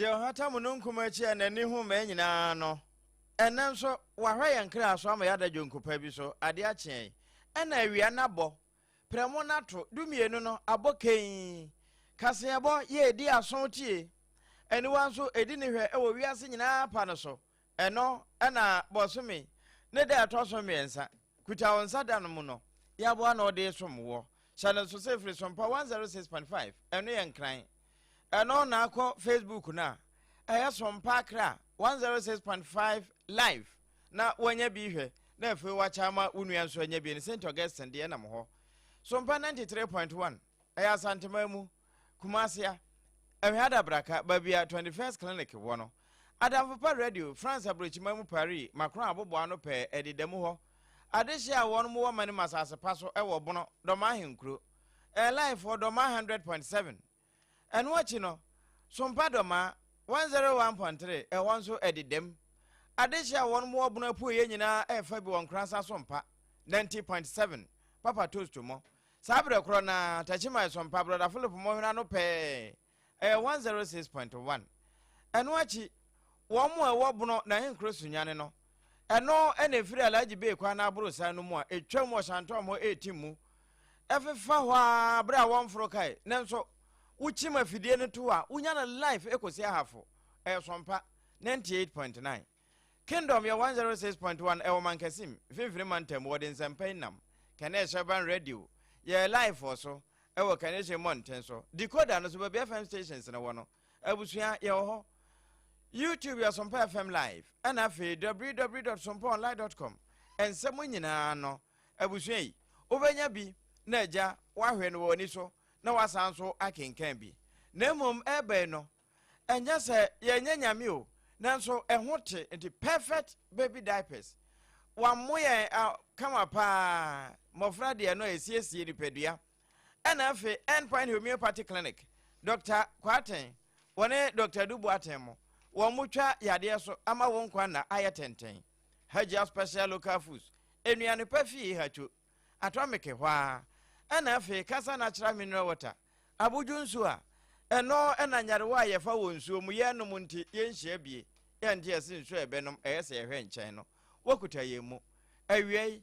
deɛ ɔhata mununkum akyi a n'ani ho mmɛn nyinaa no ɛnɛ nso wahwɛ yɛn kra so ama yɛada dwonku pa bi so ade akyeɛn ɛna awia no abɔ prɛmo no ato dumienu no abɔ kɛnn, kaseɛbɔ yɛ ɛdi aso tie, aniwa nso ɛdi ne hwɛ wɔ wiase nyinaa pa no so, ɛno na bɔsome ne da ɛtɔ so mmiɛnsa, kuta wo nsa da no mu no, yɛ aboa na ɔde som woɔ, hyɛ no nso sɛ firi so mpa 106.5, ɛno yɛ nkran, ɛno na akɔ Facebook no a, ɛyɛ so mpa akra 106.5 live. na woanya bi hwɛ na afei woakyɛ ama wo nua nso anya bi no St. Augustine deɛ nam hɔ so mpa 93.1 ɛyɛ Asanteman mu Kumasia ɛhwɛ adabraka baabi a 21st Clinic wɔ no Adamfo pa radio France aburokyiman mu Paris Macron abobo ano pɛɛ ɛde da mu hɔ adehye a wɔn wɔ ma ne masase pa so ɛwɔ bono dɔma ahenkuro ɛɛ laifoɔ dɔma 100.7 Ɛno akyi no, Sompa Dɔma, 101.3, ɛhɔ nso ɛde dam. Adehye a wɔnom wɔ Bono Apueeɛ nyinaa ɛfa bi wɔ Nkorasa Sompa, 90.7, Papa Toast Mɔ. Saa berɛ korɔ no ara, Takyimae Sompa, Brɔda Philip Mɔ hene ano pɛɛ, ɛyɛ 106.1. Ɛno akyi, wɔnom a ɛwɔ Bono n'ahenkuro Sunyani no, Ɛno na ɛfiri Alhaji Bey kwan aborosan no mu a ɛtwam wɔ Santɔm hɔ retim mu ɛfefa hɔ ara berɛ a wɔmforo kae. Nanso wokyim afidie no to a, wonya no live kɔsi Ahafo. Ɛyɛ Sompa 98.9. Kingdom yɛ 106.1 ɛwɔ Mankasim, Mfimfini Mantam mu. Wɔde nsɛmpa yi nam Kanesh Urban Radio yɛɛ live wɔ so ɛwɔ Kanesh mmɔnten so. Decoder no so baabi FM stations no wɔ no, Abusua, yɛwɔ hɔ. YouTube yɛ Sompa FM Live, ɛna afei www.sompaonline.com. Nsɛm nyinaa no, abusua yi, wobɛnya bi na agya wahwɛ no wɔ w'ani so na wasan so akenkan bi. Na mmom ɛreba yi no, ɛnyɛ sɛ yɛnyɛ nyame o, nanso ɛho te nti perfect baby diapers. Wɔammo yɛn kama paa, mmɔfra deɛ no a ɛsiesie nipadua. ɛna afei Endpoint Homeopathy Clinic, Dɔkta Kwarteng, wɔne Dɔkta Adu Boateng mo, wɔn mo twa yadeɛ so ama wo nkwa nna ayɛ tenten. Hajia Special Local Foods, nnuane pa fii Ihacho, Atomic hɔ ara, ɛna afei Kasa Natural Mineral Water, abodwo nsuo a, ɛno ɛna nyarewa a yɛfa wɔ nsuo mo yɛn nom nti yɛn nhyia bie, yɛn nte ɛse nsuo a yɛbɛnom ɛyɛ sɛ yɛhwɛ nkyɛn no, wokuta yɛn mu. Awiei,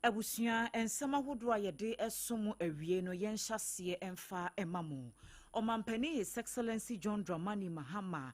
Abusua nsɛm ahodoɔ a yɛde som mo awie no yɛnhyɛ aseɛ mfa mma mo. Ɔmampanin His Excellency John Dramani Mahama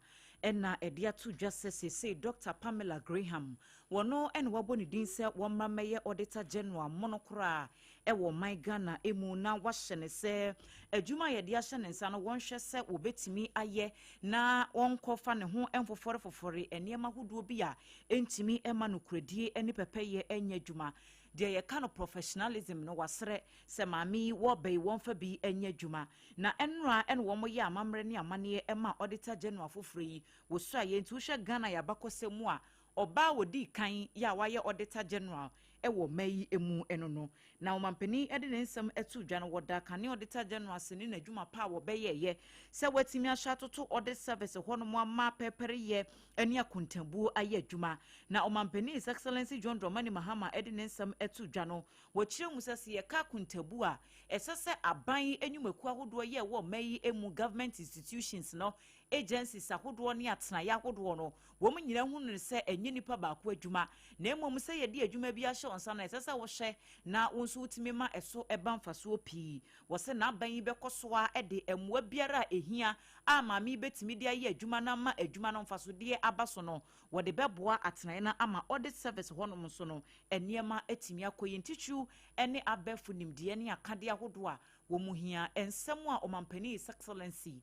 na ɛde ato dwa sɛ seesei Dɔkta Pamela Graham, wɔno na wɔabɔ ne din sɛ wɔmmra mmɛyɛ Auditor General mono koraa wɔ ɔman Ghana mu na wɔahyɛ no sɛ adwuma a yɛde ahyɛ ne nsa no wɔnhwɛ sɛ wɔbɛtumi ayɛ na wɔnkɔfa ne ho mfofɔrefofɔre nneɛma ahodoɔ bi a Ɛntumi mma nokorɛdie ne pɛpɛyɛ nyɛ adwuma. Deɛ yɛka no professionalism no, wɔasrɛ sɛ maame yi, wɔba yi, wɔmfa bi nyɛ adwuma. Na ɛnora na wɔyɛ amammerɛ ne amanneɛ maa Auditor General foforɔ yi. Wɔsuaeɛ nti, wohwɛ Ghana yɛn abakɔsɛm mu a, ɔbaa a ɔdii kan yɛ a wayɛ Auditor General wɔ mma yi mu no no, na ɔmanpanin de ne nsɛm too dwa no, wɔda kane a ɔdeta General ase ne n'adwuma pa a wɔbɛyɛeɛ sɛ wɔatumi ahyɛ atoto ɔde service hɔnom ama pɛrpɛreyɛ ne akontabuo ayɛ adwuma. Na ɔmanpanin His Excellency John Dramani Mahama de ne nsɛm too dwa no, wɔkyerɛ mu sɛ, sɛ yɛka akontabuo a ɛsɛ sɛ aban nnwumakuo ahodoɔ yɛ wɔ mma yi mu, government institutions, no agencies ahodoɔ ne atenaeɛ ahodoɔ no, wɔn nyinaa hunu no sɛ ɛnyɛ nipa baako adwuma, na mmom sɛ yɛde adwuma bi ahyɛ wo nsa no, ɛsɛ sɛ wohwɛ na wo nso wotumi ma ɛso ba mfasoɔ pii. Wɔse n'aban yi bɛkɔ so ara de mmoa biara a ɛhia a maame yi bɛtumi de ayɛ adwuma no ama adwuma no mfasodeɛ aba so no, wɔde bɛboa atenaeɛ no ama audit service hɔnom nso no nneɛma atumi akɔ yie. Ntitiriw ne abɛɛfo nimdeɛ ne akadeɛ ahodoɔ a wɔhia. Nsɛm a Ɔmampanin His Excellency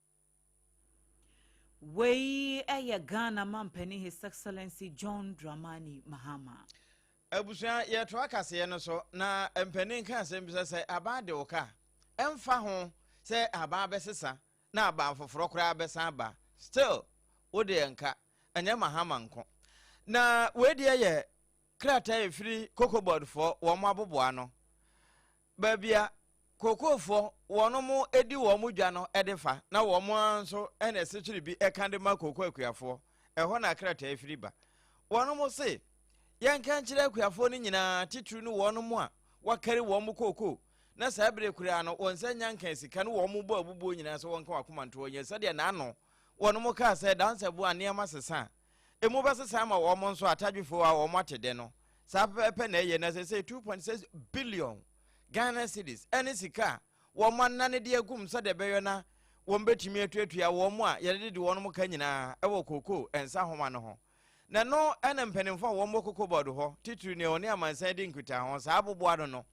Wei yɛ Ghana Mampanin His Excellency John Dramani Mahama. Abusua yɛtoa kaseɛ no so na mpanin ka asɛm bi sɛ sɛ aban de wo ka ɛmfa ho sɛ aban bɛsesa na aban foforɔ koraa bɛsan aba still wo deɛ nka ɛnyɛ mahama nko na wei deɛ yɛ krataa ɛfiri kokobɔdfoɔ wɔn aboboa no Baabi a Kokofoɔ wɔnom di wɔn dwa no de fa na wɔn ara nso na ɛsekyere bi ka de ma Koko akuafoɔ, ɛhɔ na krataa firi ba. Wɔnom se, Yɛnka nkyerɛ akuafoɔ no nyinaa, titiriw ne wɔnom a wɔakari wɔn koko na saa bere koraa no wɔn nsa nya nkaa sika no wɔn bɔ abubuo nyinaa sɛ wɔnka wɔn akoma nto hɔ nyɛ sɛdeɛ n'ano wɔnom kaa sɛ Dansɛboa nneɛma sesa a Emu bɛsesa ama wɔn nso atadwefo a wɔn ate dɛ no. Saa pɛpɛɛpɛ na ɛyɛ na sɛsɛɛ 2.6 billion Ghana cedis ne sika a wɔanane de agum sɛdeɛ ɛbɛyɔ na wɔbɛtumi atuatua wɔn a yɛde dede wɔn ka nyinaa wɔ kookoo nsahoma no ho. Na ɛno na mpanimfo a wɔwɔ koko bɔɔdo hɔ, titiri nea ɔne amansan di nkutaho ho saa aboboa no no,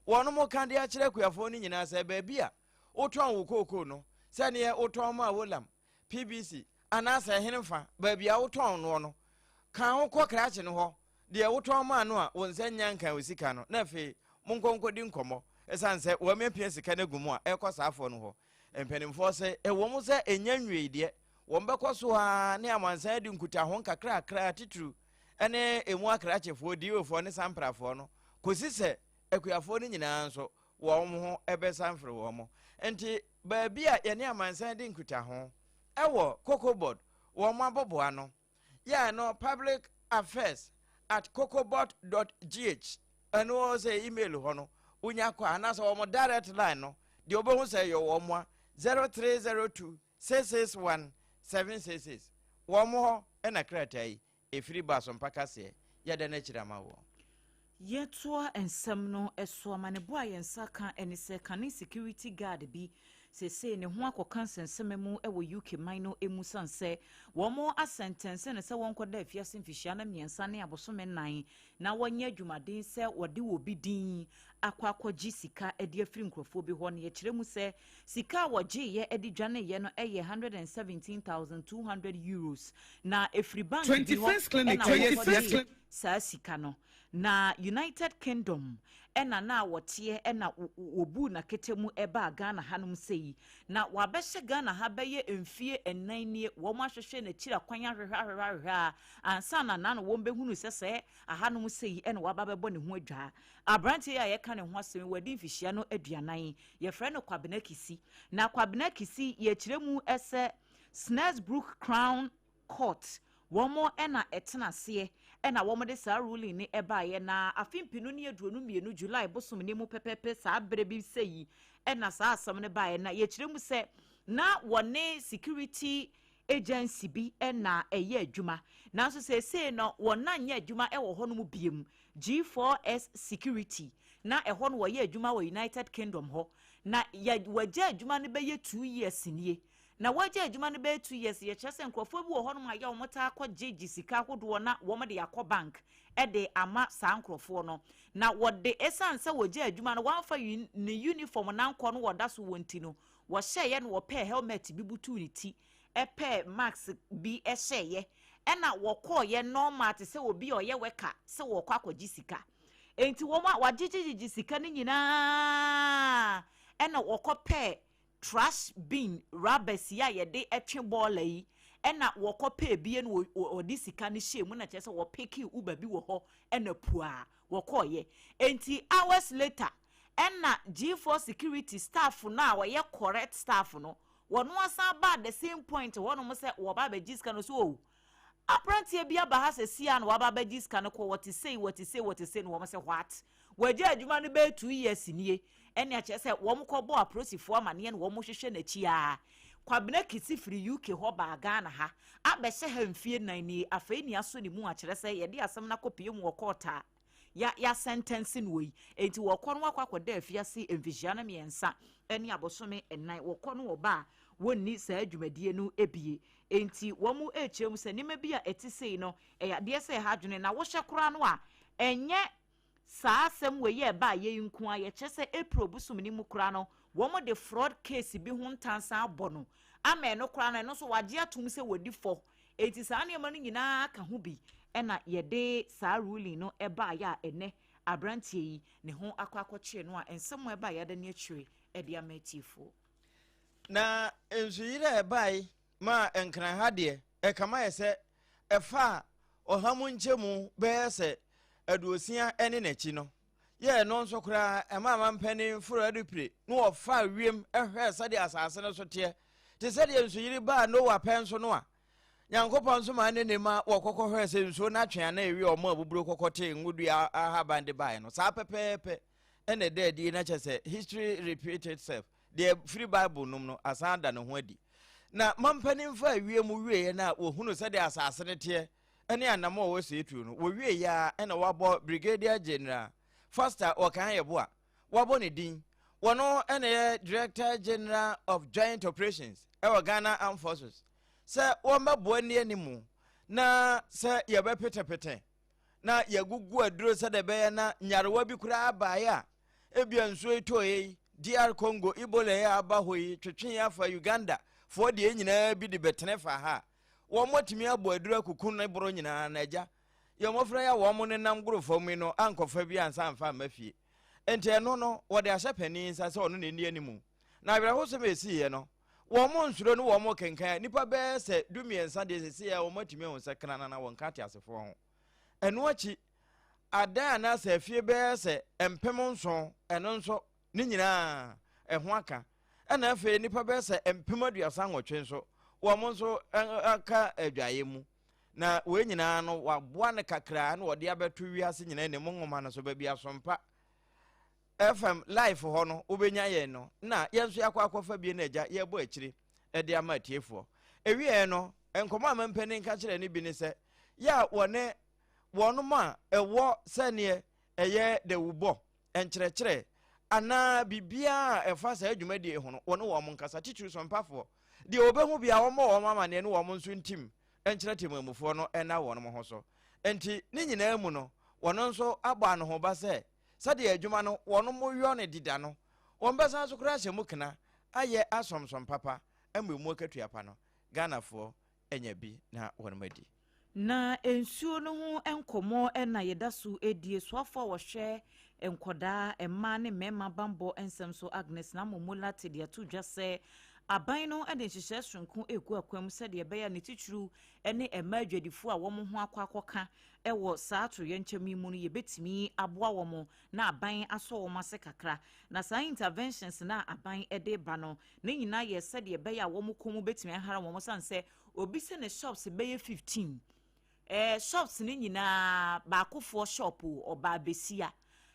wɔn ka de akyerɛ akuafoɔ no nyinaa sɛ baabi a wotɔn wo kookoo no, sɛdeɛ wotɔn maa Wolam, PBC, anaasɛ ɛhene fa, baabi a wotɔn noɔ no, kan ho kɔ krakye no hɔ, deɛ wotɔn maa no a wɔnsa nnya nkan wo sika no, na afei monkɔ nkɔdi nkɔmmɔ, ɛsiane sɛ wɔamiapia sika no agu mu a ɛrekɔ saa afoɔ no hɔ. Mpanimfoɔ se, ɛwɔ mu sɛ ɛnnya nwiei deɛ, wɔbɛkɔ so ara ne amansan adi nkutaho nkakrakra, titiriw ɛne ɛmu akrakyefoɔ, diiwefoɔ ne samprafoɔ no, kɔsi sɛ akuafoɔ no nyinaa nso wɔn ho bɛsan firi wɔn mo. Nti baabi a yɛne amansan di nkutaho ɛwɔ Cocobot wɔn mo aboboa no yɛ ɛno public affairs at cocobot dot gh ɛno sɛ email hɔ no wonya kɔ a anaasɛ wɔn mo direct line no deɛ wɔbɛhu sɛ yɛ wɔn mo a zero three zero two six six one seven six six wɔn mo hɔ ɛna krataa yi Ɛfiri ba so mpa kaseɛ. Yɛ dɛn akyiri ama woɔ? Yɛtoa nsɛm no so, amanebɔ a yɛn nsa ka ne sɛ kane security guard bi seesei ne ho akɔka nsɛnsɛmɛ mu wɔ UK man no mu sane sɛ wɔn asɛntɛnse no sɛ wɔnkɔda afiase mfihyia na mmiɛnsa ne abosome nnan na wɔnyɛ adwumaden sɛ wɔde obi din akɔ akɔgye sika de afiri nkurɔfoɔ bi hɔ na yɛkyerɛ mu sɛ Sika a wɔgyeeɛ de dwaneeɛ no yɛ €117,200, na ɛfiri bank bi hɔ na wɔkɔgyee saa sika no. Na United Kingdom na na wɔteɛ na wɔbuu no akete mu baa Ghana hanom sei. Na wɔabɛhyɛ Ghana ha bɛyɛ mfeɛ nnan nie, wɔahwehwɛ n'akyiri akwan ahwehwɛ ahwehwɛ ahwehwɛ ara ansa na na wɔbɛhunu sɛ sɛ ahanom sei na wɔaba abɛbɔ ne ho adwaa. Aberanteɛ yi a yɛka ne ho asɛm yi, wadi mfihyia no aduanan. Yɛfrɛ no Kwabena Kisi. Na Kwabena Kisi, yɛkyerɛ mu sɛ Snaresbrook Crown Court, wɔn na ɛtena aseɛ, ɛna wɔde saa ruling ne ɛbaeɛ. Na afe mpenu ne aduonu mmienu, July bosom no mu pɛpɛpɛ, saa berɛ bi sɛ yi, ɛna saa asɛm no baeɛ. Na yɛkyerɛ mu sɛ, na wɔne security agency bi na ɛyɛ adwuma, nanso seesei no wɔn nyɛ adwuma wɔ hɔnom biom, G4S Security, na ɛhɔ no wɔyɛ adwuma wɔ United Kingdom hɔ, na yɛ wɔagya adwuma no bɛyɛ two years nie. Na wɔagya adwuma no bɛyɛ two years yɛ kyerɛ sɛ nkurɔfoɔ bi wɔ hɔnom a yɛ wɔn taa kɔ gye gye sika ahodoɔ na wɔn de akɔ bank de ama saa nkurɔfoɔ no, na wɔde ɛsiane sɛ wɔgya adwuma no wɔamfa ne uniform no ankɔ no wɔda so wɔ nti no Wɔhyɛeɛ na wɔpɛɛ helmet bi butuu ne ti, pɛɛ mask bi hyɛeɛ, ɛna wɔkɔeɛ normal te sɛ obi a ɔyɛ worker sɛ wɔrekɔ akɔgye sika. Enti wɔn a wɔagyegyegyegye sika no nyinaa ɛna wɔkɔpɛɛ trash bin rubbers yi a yɛde twe bɔɔla yi, ɛna wɔkɔpɛɛ bi ɛna wɔde sika no hyɛɛ mu na kyerɛ sɛ wɔpekee Uber bi wɔ hɔ ɛna puaa wɔkɔeɛ. Enti hours later ɛna G4 security staff no a ɔyɛ correct staff no wɔn asan baa the same point hɔnom sɛ wɔba abɛgye sika no so o aberanteɛ bi aba ha sɛ sia na waba abɛgye sika no kɔ wɔte sei wɔte sei wɔte sei na wɔn sɛ what wɔagya adwuma no bɛyɛ two years nie ɛne akyerɛ sɛ wɔn kɔbɔ apolisifoɔ amaneɛ na wɔn hwehwɛ n'akyi a kwabena kisi firi uk hɔ baa ghana ha abɛhyɛ ha mfie nan nie afei ne aso ne mu akyerɛ sɛ yɛde asɛm no akɔpie mu wɔ kɔɔta a ya yɛasɛntɛnse noɔ yi. Enti wɔkɔ no wakɔ akɔda afiase mfihyia no mmiɛnsa ne abosome nnan. Wɔkɔ no wɔba a, wɔnni saa dwumadie no bie. Enti wɔrekyerɛ mu sɛ nneɛma bi a ɛte sei no, ɛyɛ adeɛ sɛ ɛha adwene. Na wohwɛ koraa no a, ɛnyɛ saa asɛm wei a ɛbaeɛ yi nko ara. Yɛkyerɛ sɛ April bosom no mu koraa no, wɔde fraud case bi ho ntansa abɔ no ama ɛno koraa no, ɛno nso wɔagye atom sɛ wɔdi fɔ. Enti saa nneɛma no nyinaa ka ho bi na yɛde saa ruling no baeɛ a ɛnnɛ aberanteɛ yi ne ho akɔ akɔkyere no a nsɛm a ɛbaeɛ adane akyire de ama atiefoɔ. Na nsuyire a ɛbae maa Nkran ha deɛ, ɛkama yɛ sɛ ɛfaa ɔha mu nkyɛmu bɛyɛ sɛ aduosia ne n'akyi no. yɛ ɛno nso koraa ɛmaa mampanin foro adupire na wɔfaa wiem hwɛɛ sɛdeɛ asase no so teɛ te sɛdeɛ nsuyiri baa noa pɛn so no a nyankopɔn nso maa ne nima wɔkɔkɔ hwɛɛ sɛ nsuo no atwe ana ɛwie ɔmo a buburo kɔkɔ tee ngodua ahaban de baeɛ no saa pɛpɛɛpɛ ɛna ɛda adi na kyɛ sɛ history repeat itself deɛ firi bible nom no asan ada ne ho adi na mampanin faa wiem wieɛ no a wɔhunu sɛdeɛ asase no teɛ ne anamɔ a wɔsɛe tuo no, wɔwie yɛ a ɛna wɔabɔ Brigadier General Foster Okan Yeboah, wɔabɔ ne din. Wɔno ɛna yɛ Director General of Joint Operations ɛwɔ Ghana Armed Forces sɛ wɔmmɛboa nni animu na sɛ yɛbɛpetepete na yɛagugu aduro sɛdeɛ ɛbɛyɛ na nyarewa bi koraa baeɛ a ebia nsuo yi tɔeɛ yi DR Congo Ebola yi a aba hɔ yi twetwe afa Uganda foɔ deɛ nyinaa bi de bɛtene fa ha a Wɔn atumi abɔ aduru akuku ne boro nyinaa na agya yɛ mmɔfra yi a wɔn nenam goro fam yi no ankɔfa bi ansa amfa amma fie. Enti ɛno no, wɔde ahyɛ panin nsa sɛ ɔno na ɛnni animu. Na awerɛhosɛm a ɛsiiɛ no, wɔn nsuro ne wɔn kenkan a nnipa bɛyɛ sɛ dumiɛnsa deɛ sɛsei ara wɔn atumi ahu sɛ kena nana wɔnka ateasefoɔ ho. Ɛno akyi, adan anaasɛ afie bɛyɛ sɛ mpem nson, ɛno nso Ne nyinaa, ɛho aka. Ɛnna afei nnipa bɛyɛ sɛ mpem aduasa nwɔtwe nso, wɔn nso aka adwaeɛ mu. Na wei nyinaa no, waboa no kakraa na wɔde abɛto wiase nyinaa ne mu nwoma no so baabi asompa. FM life hɔ no, wobɛnya yɛn no, na yɛn nso yɛakɔ akɔfa bie no agya yɛbɔ akyire de ama atiefoɔ. Ewieɛ no, nkɔmmɔ a mampanin ka kyerɛ no bi ne sɛ, yɛ a wɔne wɔnom a ɛwɔ sɛneɛ ɛyɛ dawubɔ, nkyerɛkyerɛ, anaa biribiara a ɛfa saa dwumadie ho no, wɔne wɔn nkasa, titiri so mpafoɔ. Deɛ wɔbɛhu biara, wɔmmɔ wɔn amaneɛ ne wɔn nso ntim nkyerɛ temammufoɔ no nna wɔn ho so. Enti, ne nyinaa mu no, wɔn nso abɔ anohoba sɛ, sɛdeɛ adwuma no wɔyɔ no deda no, wɔbɛsan so koraa ahyɛ mu kena, ayɛ asomsom papa, ama mu akatua pa no. Ghanafoɔ anya bi na wɔadi. Na nsuo no ho nkɔmmɔ na yɛda so redi. Asuafoɔ a wɔhwɛ nkwadaa, mmaa ne mmarima bammɔ nsɛm so, Agnes Nammom Molate de ato dwa sɛ, Aban no de nhyehyɛe soronko regu akwan mu sɛdeɛ ɛbɛyɛ a ne titiriw ne mmaa adwadifoɔ a wɔn ho akɔ akɔka wɔ saa atoyerɛnkyɛm yi mu no yɛbɛtumi aboa wɔn na aban asɔ wɔn ase kakra. Na saa interventions no a aban de reba no, Ne nyinaa yɛ sɛdeɛ ɛbɛyɛ a wɔn kɔn mu bɛtumi ahara wɔn sane sɛ obi sɛ ne shops bɛyɛ 15 ɛɛ shops ne nyinaa baakofoɔ shop o ɔbaa besia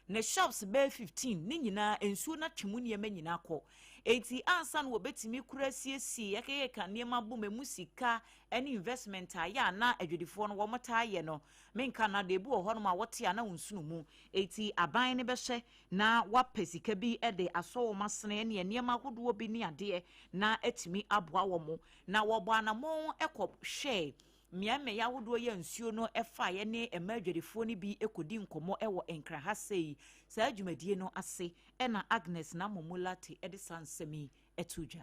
ne shops bɛyɛ 15 ne nyinaa nsuo no atwe mu nneɛma nyinaa kɔ enti ansa no wɔbɛtumi kura asiesie yɛkɛkɛka nneɛma bom ɛmu sika ne investment a yɛ a na adwadifoɔ no wɔn taa yɛ no menka no adeɛ bi wɔ hɔnom a wɔte a na wɔnsunu mu enti aban no bɛhwɛ na wɔapɛ sika bi de asɔ wɔn asene ne nneɛma ahodoɔ bi ne adeɛ na atumi aboa wɔn, na wɔbɔ anammɔn kɔ hwɛɛ mmeaemmeaeɛ ahodoɔ yi a nsuo no faeɛ ne mmaa adwadifoɔ no bi kɔdi nkɔmmɔ wɔ Nkran ha sei. Saa dwumadie no ase na Agnes Namomu Lartey de saa nsɛm yi too dwa.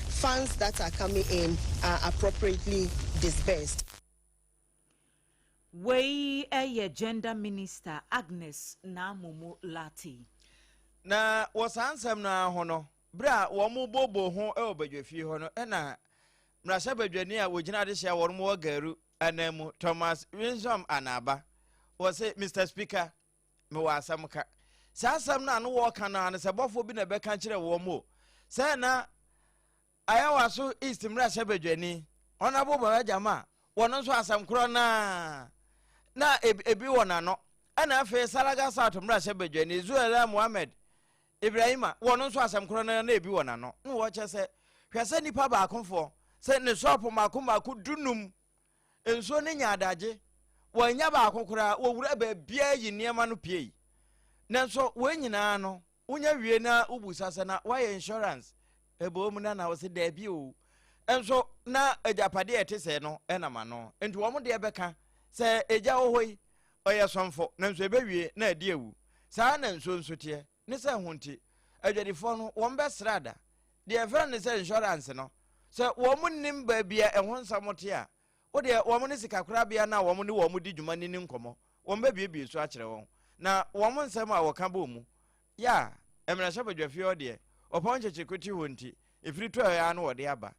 funds that are coming in are appropriately disbursed. Wei yɛ Gender Minister Agnes Naamomu Lartey. Na wɔ saa nsɛm no ara ho no, berɛ a wɔbooboo ho wɔ badwafie hɔ no, ɛna mmarahyɛ badwani a wɔgyina adehyɛ a wɔn wɔ Garu ananmu Thomas Winsome Anaaba wɔ se, Mr Speaker, mewɔ asɛm ka. Saa asɛm no a no wɔɔka no ara ne sɛ bɔfoɔ bi na ɛbɛka kyerɛ wɔn mo sɛ na Ayawaso East mmarahyɛ badwani Honourable Baba Gyama wɔn nso asɛm korɔ no ara na ebi wɔ n'ano ɛna afei Salaga South mmarahyɛ badwani Zuela Mohammed Ibrahima wɔn nso asɛm korɔ no ara na ebi wɔ n'ano na wɔkyɛ sɛ hwɛ sɛ nipa baakofoɔ sɛ ne sɔɔpo mmaako mmaako dunum Nsuo no nyaa adagye, wɔannya baako koraa, wɔwuraa baabiara yii nneɛma no piei. Nanso wei nyinaa no, wonya wie na wobu sa sɛ na woayɛ insurance? Ɛbɔ mu na na wɔse daabi o. Nso na agyapadeɛ a ɛte sɛɛ no nam ano. Nti wɔn deɛ bɛka sɛ agya wɔ hɔ yi, ɔyɛ sɔmfo, nanso ɛbɛwie na adi awu. Saa na nsuo nso teɛ. Ne sɛ ho nti, adwadifoɔ no, wɔbɛsra da. Deɛ yɛfrɛ no sɛ insurance no, sɛ wɔn nnim baabi a ɛho nsɛm te a, wo deɛ wɔn ne sikakorabea no a wɔn ne wɔn di dwuma no ni nkɔmmɔ, wɔbɛbuebue so akyerɛ wɔn. Na wɔn nsɛm a wɔka bɔ mu. Yaa, mmarahyɛbadwafie hɔ deɛ, ɔpɔn nkyekyereku te hɔ nti, ɛfiri tɔɛ ara na wɔde aba.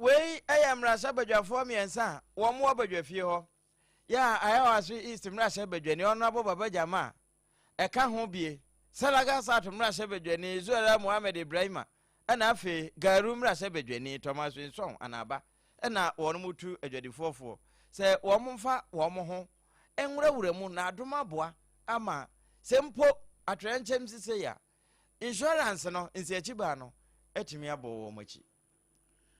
Wei yɛ mmarahyɛbadwafoɔ mmiɛnsa a wɔwɔ badwafie hɔ, yɛ a Ayawaso East mmarahyɛbadwani Honourable Baba Jamaa ɛka ho bie, Salaga South mmarahyɛbadwani Zuera Mohammed Ibrahima ɛna afei Garu mmarahyɛbadwani Thomas Winsong Anaba ɛna wɔn tu adwadifoɔ foɔ sɛ wɔn mfa wɔn ho nwurawura mu na adom aboa ama sɛ mpo atoyɛnkyɛm si sei a insurance no nsiakyibaa no atumi abɔ wɔn akyi.